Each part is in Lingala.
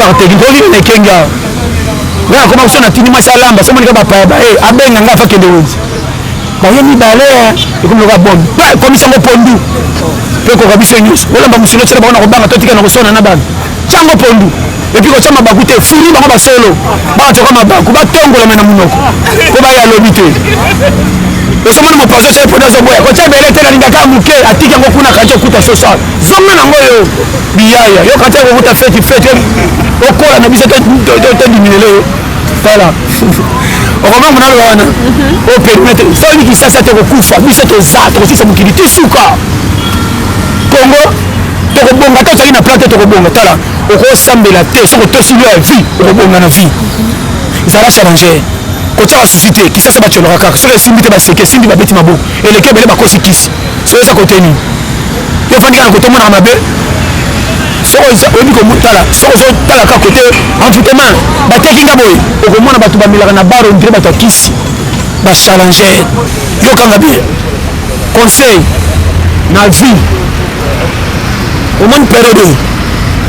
bakateki mpo nini naekengi awa nga nakoma koso natindi mwasi alamba so monika bapaya baye eh, abenga nga afa kende wenzi baye mibale eh, ekomi loka bombe mpe ekomisi yango pondu mpe ekoka biso nyonso olamba mosolo tyela bango na kobanga totika na kosona na bana Chango pondu epi kotya mabaku te fini bango basolo bakatyoka mabaku batongolama na monoko mpo baya lobi te ozomona mopanzi oso eponi azoboya kotya bele te nalingaka moke atiki yango kuna kati okuta sosal zonga nango yo biyaya yo kati yakokuta feti feti okola na biso todiminele yo tala okomanga naloba wana o perimetre soki kisasa tokokufa biso toza tokosisa mokili tisuka kongo tokobonga ata ozali na plan te tokobonga tala okosambela te soki otosi loi ya vie okobonga na vie zala challenger kotyaka susi te kisasa batyolaka kaka soki esimbi te baseki esimbi babeti maboko eleki ebele bakosi kisi soki eza kote nini yo ofandi kaka kote omonaka mabe soki oyebi komotala soki ozotala kaka kote envoutema bateki nga boye okomona bato bamelaka na bar ondire bato ya kisi bachallenger yokanga bien conseil na vie omoni periode oyo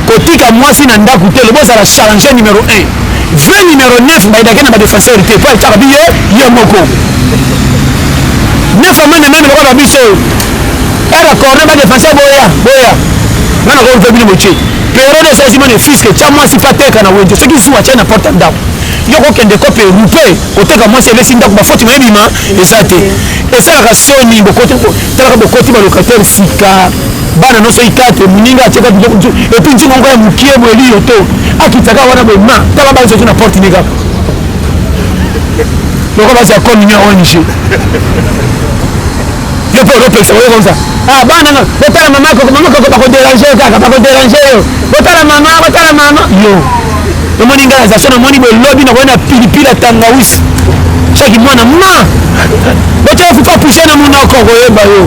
kotika mwasi na ndako te lobo ozala change numero 1 vrai numero 9 mbaidake na badefenseur te mpo etaka biye ye moko nefa meme meme lokola biso era corne badefenseur boya boya nga na koyompe bino botie periode osi azima ne fiske tya mwasi mpe ateka na wenze soki zuwa tya na porte ya ndako yo kokende kope rupe koteka mwasi ebesi ndako bafoti mayebima eza te esalaka soni bokoto talaka bokoti ba locataire sika bana nyonso ikate moninga atyaka biloko mosusu epuis ntina moko ya mokie boye liyo to akitaka wana boye ma tala bana soki na porte ne kaka loko basi ya commune ya ong yo mpe olopekisa oyo komsa ah bana nga botala mama koko mama koko bakoderange yo kaka bakoderange yo botala mama botala mama yo omoni ngai naza so namoni bolobi nakoki na pilipili ya tangawisi soki mwana ma botyaka kufa pushe na monoko koyeba yo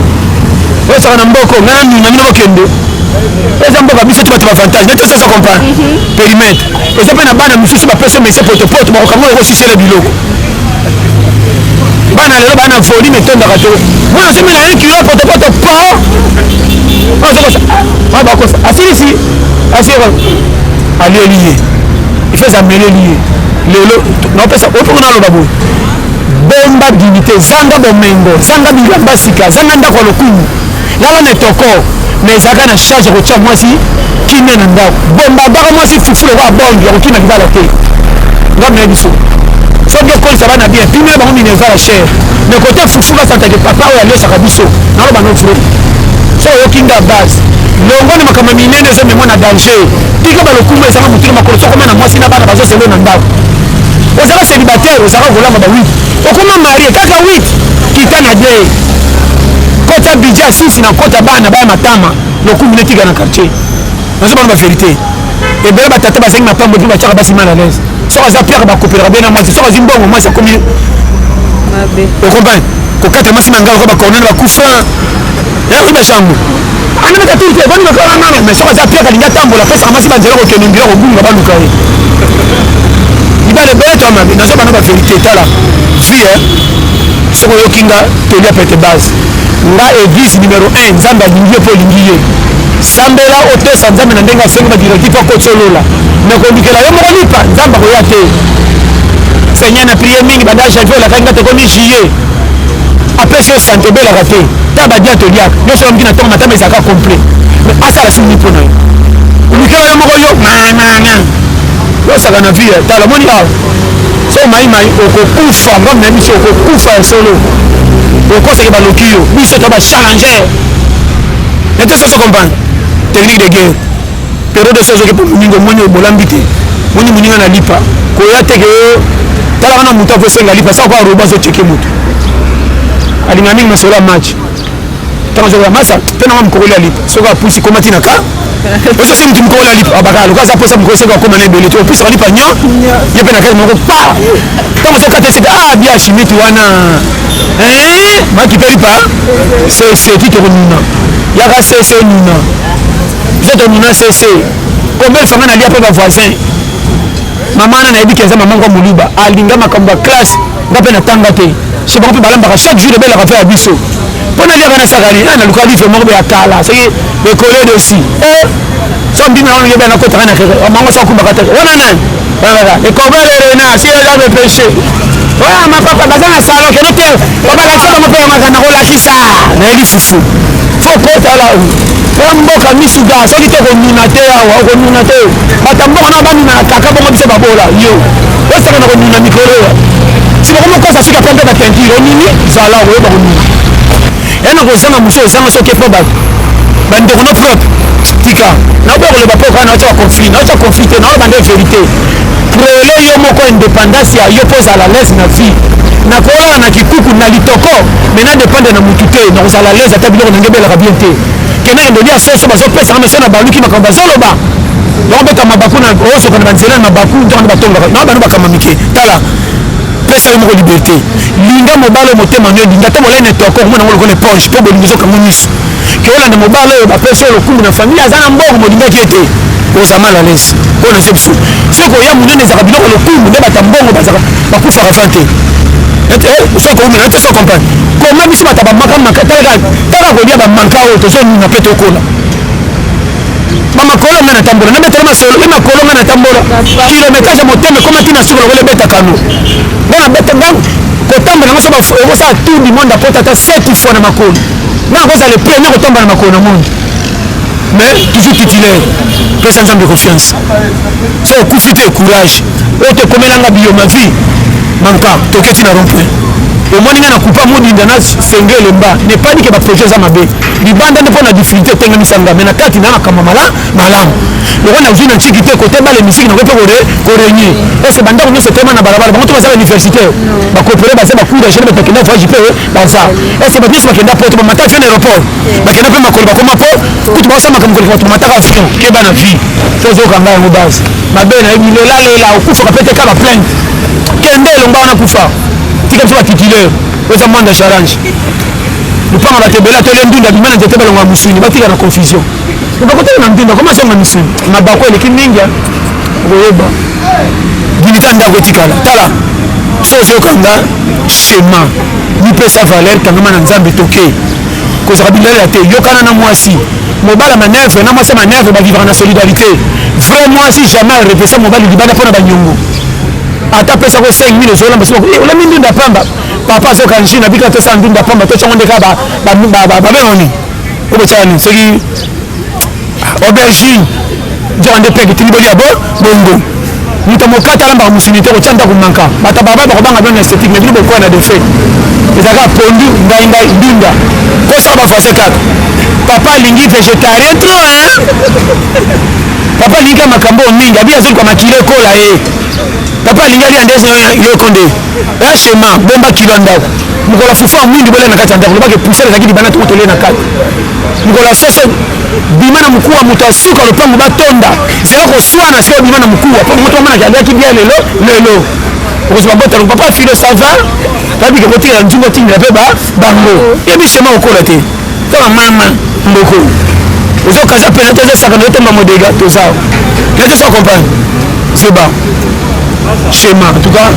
ozalaka na mboko ngai na nuna bino bokende eza mboka biso ti bato bavantage neti ozoza comprendre mhm. perimetre eza mpe na bana mosusu bapesa mese potopoto bakokanga oko sisele biloko bana lelo bana foli metondaka to mwana azomela 1 kilo potopoto po azokosa ah, asilisi Asi alieli ye ifeza ameleli ye lelo naopesa opoko naloba boye bomba dignité zanga bomengo zanga bilamba sika zanga ndako ya lokumu lala na etoko mais ezalaka na charge ya kotya mwasi kimia na ndako bomba baka mwasi fufu lokola bombi ya kokima libala te ngambo na biso soki okolisa bana bien pimela bango minerval ya chere mais kote fufu basantake papa oyo aliosaka biso naloba no vrai so oyoki nga base longwa na makambo minene eza memo na danger tika balokumu ezanga motuna makolo sokoma na mwasi na bana bazoselo na ndako ozala célibataire ozala kolamba ba 8 okoma marie kaka 8 kita na de kota bidja susi na kota bana baya matama lokumu netika na quartier nazobana ba verité ebele batata bazangi na pambo mpe batyaka basi mal à l'aise soki aza piaka bakopelaka bena mwasi soki azwi mbongo mwasi akomi okomprendre kokatela mwasi mangaloko bakornele bakufa Merci ma chambre. Ana meka tuli te boni meka na nana mais soka za pia kalingi atambola pesa kama si banzela kokende mbila kobunga baluka ye. Ibale bele to mami nazo bana ba verite tala. Fille hein. Soko yokinga tolia pete base. Nga église numéro 1 Nzambe alingi yo po lingi ye. Sambela otosa Nzambe na ndenge asengi ba directif akotolola. Mais kolukela yo moko lipa Nzambe akoya te. Seigneur na prière mingi banda janvier olakaki nga tokomi juillet. apesi yo sante obelaka te ta badia toliaka nyonso oyoki na ntongo matama ezalaka complet mais asala sini mpo na yo olikela yo moko yo mamana yosaka na vie tala moni awa so maimai okokufa mbambi na biso okokufa ya solo okosaki baloki yo biso to bachallenger na te soso comprendre technique de guerre Periode osi azoki po moninga omoni oyo bolambi te. Moni moninga na lipa. Koya te ke yo tala wana moto akosenga lipa sa ko arobo azoteke moto. Alinga mingi masolo ya match. Tango azokola masa pe na mokokoli ya lipa. Soki apusi koma tina ka oso sini timi kola lipa abaka loka za posa mukose kwa koma nebe leto opisa lipa nyo yebe na kali moko pa tango so kata sita ah bia shimiti wana eh maki pe lipa se se ti toko nuna yaka se se nuna Nzoto nuna sese. Combien de famille nalia pe ba voisins. Maman na nayebi kenza maman kwa muluba. Alinga makambo ya classe. Nga pe natanga te. Chez bango pe balambaka chaque jour ebela kafe ya biso. Mpo na liaka na sakani, ah, na luka livre moko ya kala. Soki le collègue aussi. Eh, so mbimi na yeba na kota kana kere. Mango sa kumbaka te. Wana nani? Wana. Et comment le renard, si elle a le péché. oyo mapapa baza na salo kende te obalakisa bango mpe yamaka nakolakisa nayebi fufu fo kotala ya mboka misuka soki te konuna te awa okonuna te bato ya mboka nao banunaka kaka bongo biso babola yo osaka na konuna mikolo oyo si bakomokosa suka pempe batentire onini zala okoyeba konuna ya na kozanga mosu ozanga soki mpo bato bandeko no peuple tika naoboya koloba mpo kaka naotya baconflit naotya conflit te naoloba nde verité prele yo moko indépendance ya yo mpo ozala lese na vie nakolala na kikuku na litoko mais na dépendre na mutu te nakozala lese ata biloko nange ebelaka bien te kenda yendo lia soso bazopesaka na so na baluki makambo bazoloba bakobeta mabaku na osoka na banzela na mabaku ntango nde batongaka na bano bakamba mike tala pesa yo moko liberté linga mobali motema nio linga te bolai na etoko omona yango lokola eponge mpo bolingi ezokango miso ke olanda mobali oyo bapesi yo lokumu na famille aza na mbongo molingaki ye te oza mal alaise oyo na biso soki oya monene ezaka biloko lokumu nde bata mbongo bazaka bakufaka fan te ete eh, soki koumela te so comprendre koma biso bata bamaka maka taka kolia bamanka oyo tozonuna mpe tokola bamakolo nga natambola nabetela masolo mpe makolo nga natambola kilometrage ya motema ekomaki na suka lokola ebeta kano nga nabeta kotambola nga so okosala tour du monde akota ata 7 fois na makolo nga nakozala le premier kotomba na makolo na moi mais toujours titulaire pesa nzambe confiance so okufi te courage oyo tokomelanga biyo ma vie manka toketi na rompoint omoni nga na kupa modinda na senge elemba nepani ke baprojet eza mabe libanda nde mpo na difficulté etengemisanga me na kati na makambo mala malamu lokola nazwi na ntiki te kote bale misiki nakoki mpe korenye ese bandako nyonso etema na balabala bango to baza universitaire bakopere baza bacour ya gene bakenda voyage mpe baza ese bato nyonso bakenda poto bamata avion na aéroport bakenda mpe makolo bakoma po kutu baosa makambo koleka bato bamataka avion keba na vie to ozokanga yango base mabe na yebi lela lela okufaka mpe te ka ba plainte kende elonga wana kufa tika biso batitulaire oza manda charange lupanga bato ebele atole ndunda bima na nzete balonga musuni batika na confusion bakotala na ndunda koma azonga misuni mabako eleki mingi okoyeba dilika ndako etikala tala so ozokanga shema mipesa valeur kangama na nzambe toke kozala bilalela te yokana na mwasi mobali ya manevre na mwasi ya manevre bavivaka na solidarité vrai mwasi jamais arepesa mobali libanda mpo na banyongo ata apesa ko 5000 ozolamba soki eh, olami ndunda pamba papa azoka nji na bika tosa ndunda pamba tocango nde kaka babengani obotyaka nini soki aubergine nzoka nde peke tini bolia bo bongo moto mokata alambaka mosuni te kotya ndako manka bato ya baba bakobanga bino na esthétique mais bino bokoya na defet ezalaka pondu ngai ngai ndunda kosaka bafrancais kaka papa alingi végétarien trop hein papa alingi ka makambo mingi abi azoli kwa makilo ekola ye papa alingi alia nde yoko nde echema bomba kilo ya ndako mokolo fufu ya mwindu bolia na kati ya ndako lobaka epusele ezalaki libanda toko tolie na kati mokolo ya soso bima na mokuwa moto ya suka lopango batonda zela koswana sikoyo bima na mokuwa mpo moto amonaki aliaki bien lelo lelo okozwa botano papa filo sava babike kotikela nzungu otindela mpe bango yebi shema okola te tala mama mboko ozokaza mpe nati ezosaka nayo tomba modega toza nati osa comprendre zoba shema en tout cas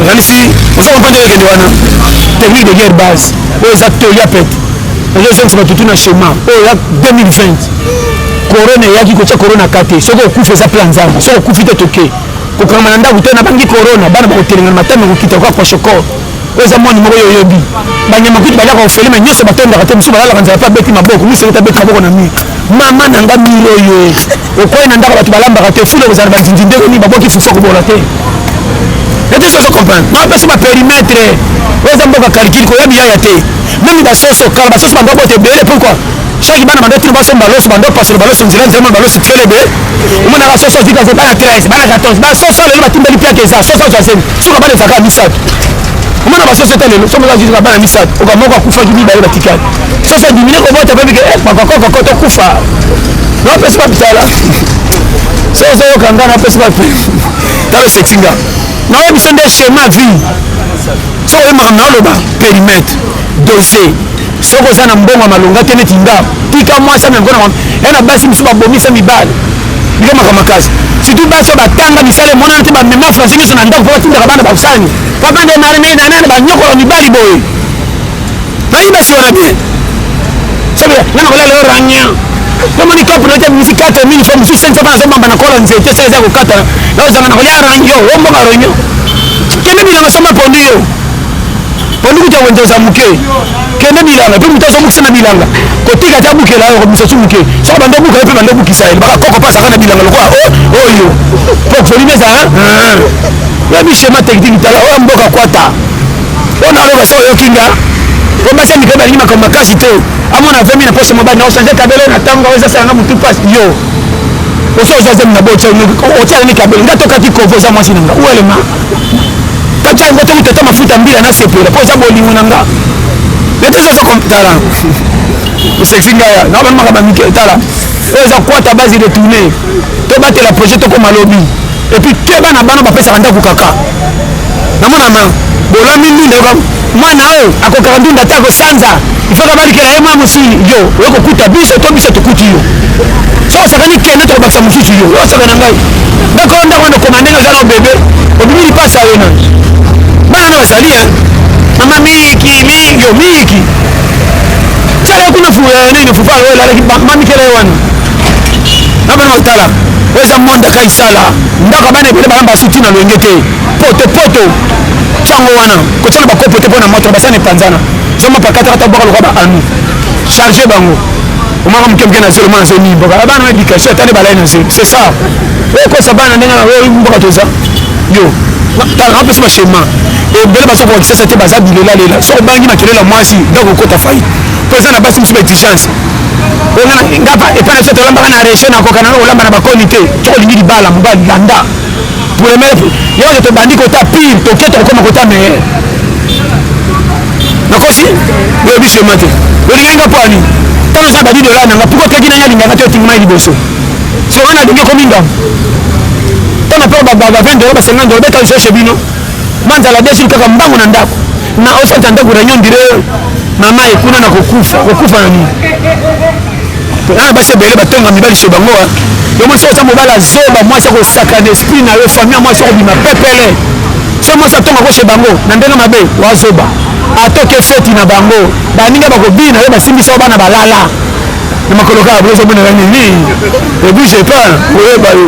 okanisi oza comprendre okende wana technique de guerre base oyo eza toli ya pete ozozongisa bato tuna shema oyo ya 2020 korona eyaki kotya korona ka te soki okufi eza mpe ya nzambe soki okufi te toke kokangama na ndako te nabangi korona bana bakotelengana matami ekokita kaka kwashokor oyo eza mwana moko yo oyebi banyama kutu baliaka ofele me nyonso batondaka te mosusu balalaka nzala mpe abeti maboko mosusu ete abeti maboko na mire mama na nga mire oyo okwei na ndako bato balambaka te fule kozala bazinzi ndenge nini babwaki fuso kobola te ete soso comprendre na bapesi baperimetre oyo eza mboka calcule koya biyaya te Mimi ba soso kala ba soso bando bote bele pourquoi? Chaque bana bando tino baso baloso bando pasolo baloso nzela nzela baloso fele be. Omona ba soso vika ko bana 13 bana 14 ba soso lelo batimbeli pia keza soso za zemi. Soka bana zaka misatu. Omona ba soso tele somo za zika bana misatu. Oka moko akufa kibi ba batikali. Soso dimine ko bota pe bike eh kwa kwa kwa to kufa. Na pesa pa bitala. Soso yo kanga na pesa pa. Talo setinga. Na yo biso nde chemin vie. soki oye makambo naoloba perimetre dose soki oza na mbongo ya malonga te neti nga tika mwasi amemko na ya na basi mosusu babomisa mibale bika makambo makasi surtout basi oyo batanga misala emonana te bamema français nyonso na ndako mpo batindaka bana basangi papa nde nani nani banyokola mibali boye Nayebi basi wana bien. Sabe, nana kolala yo rangien. Namoni kapu na jabi misi 4 mini fois mosusu sengi fapana azomamba na kola nzete sala eza kokata na ozanga na kolia rangio o mbonga rangio kende bilanga samba pondu yo pondu kuta wenze oza moke kende bilanga mpe moto azomokisa na bilanga kotika te abukela yo komisa su moke soko bando obuka yo mpe bando obukisa ye baka koko pasaka na bilanga lokola oyo po folimi ezala ya bishema tekitiki tala oyo mboka kwata oyo naloba so oyoki nga po basi ya mikolo balingi makambo makasi te amona avemi na poso mobali na ochange kabelo na ntango oyo ezasalanga motu mpasi yo oso oza zemi na bo otialani kabelo nga tokaki kovo oza mwasi na nga uelema kati yango te mitata mafuta mbila nasepela mpo oza bolingo na nga nete soso tala osexi ngaya na bana makambo mike tala oyo eza kwata base de tourne tobatela projet tokoma lobi epuis keba na bana bapesaka ndako kaka namonana bolami ndunda yoka mwana oyo akokaka ndunda te akosanza ifaka balikela ye mwa mosili yo okokuta biso to biso tokuti yo soki osakani kende tokobakisa mosusu yo yo osaka na ngai ndako oyo ndako wana okoma ndenge oza na obebe obimi lipasi ayo na bana na bazali e mama miki miki yo miki sala kuna fuya nini fufa oyo elalaki mamikela ye wana na bana otala oyo eza monde ya kaisala ndako ya bana ebele bana basuti na loyenge te poto poto ntango wana kotyana bakopo te mpo na moto na basani epanzana zoma pakataka ta bwaka lokola baanu charge bango omaka moke moke na zelo mwana zemi mboka ah, bana edikasio atali balai na zelo c'est ça okosa bana ndenge na oyo mboka toza yo tala napesi bashema ebele baza koka kisasa te baza bilelalela soki obangi makelela mwasi ndako okota fai mpo eza na basi mosusu ba exigence olingi ngapa epai na biso tolambaka na region nakokana na kolamba na bakoni te soki olingi libala mobali landa premier yeke tobandi kota pire toke tokokoma kota meilleur nakosi oyebi sema te olingi nga mpo ani ntango eza badi dola nanga pourkoi teki nani alingaka te otingi mai liboso soki wana alingi ekomi ndambo ntango mpe ba 20 dola ba 50 dola beta lisoso bino Manzala desul kaka mbangu na ndako na osenta ndako na nyondire mama ye kuna na kokufa kokufa na nini na basi ebele batonga mibali so bango ah. yo mwasi oza mobala zoba mwasi akosaka na esprit na yo famille ya mwasi okobima pepele so mwasi atonga koshe bango na ndenge mabe wazoba atoke feti na bango baninga bakobina yo basimbisa bana balala na makolo kaka bozobonela nini ebouge pas oyeba yo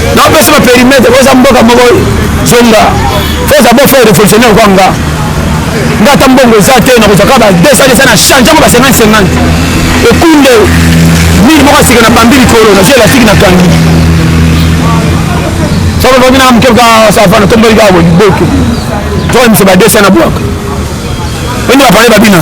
na opesa ba perimetre boza mboka moko zonga foza bo faire révolutionnaire kwa nga nga ata mbongo eza te nakozwa kaka ba 200 desa na change yango ba 50 50 ekunde mili moko asika na bambi likolo nazwi elastique na kangi soko bomi na moke kaka savana tomboli kaka boboke toyemisa ba 200 na bwaka oyini bapale babina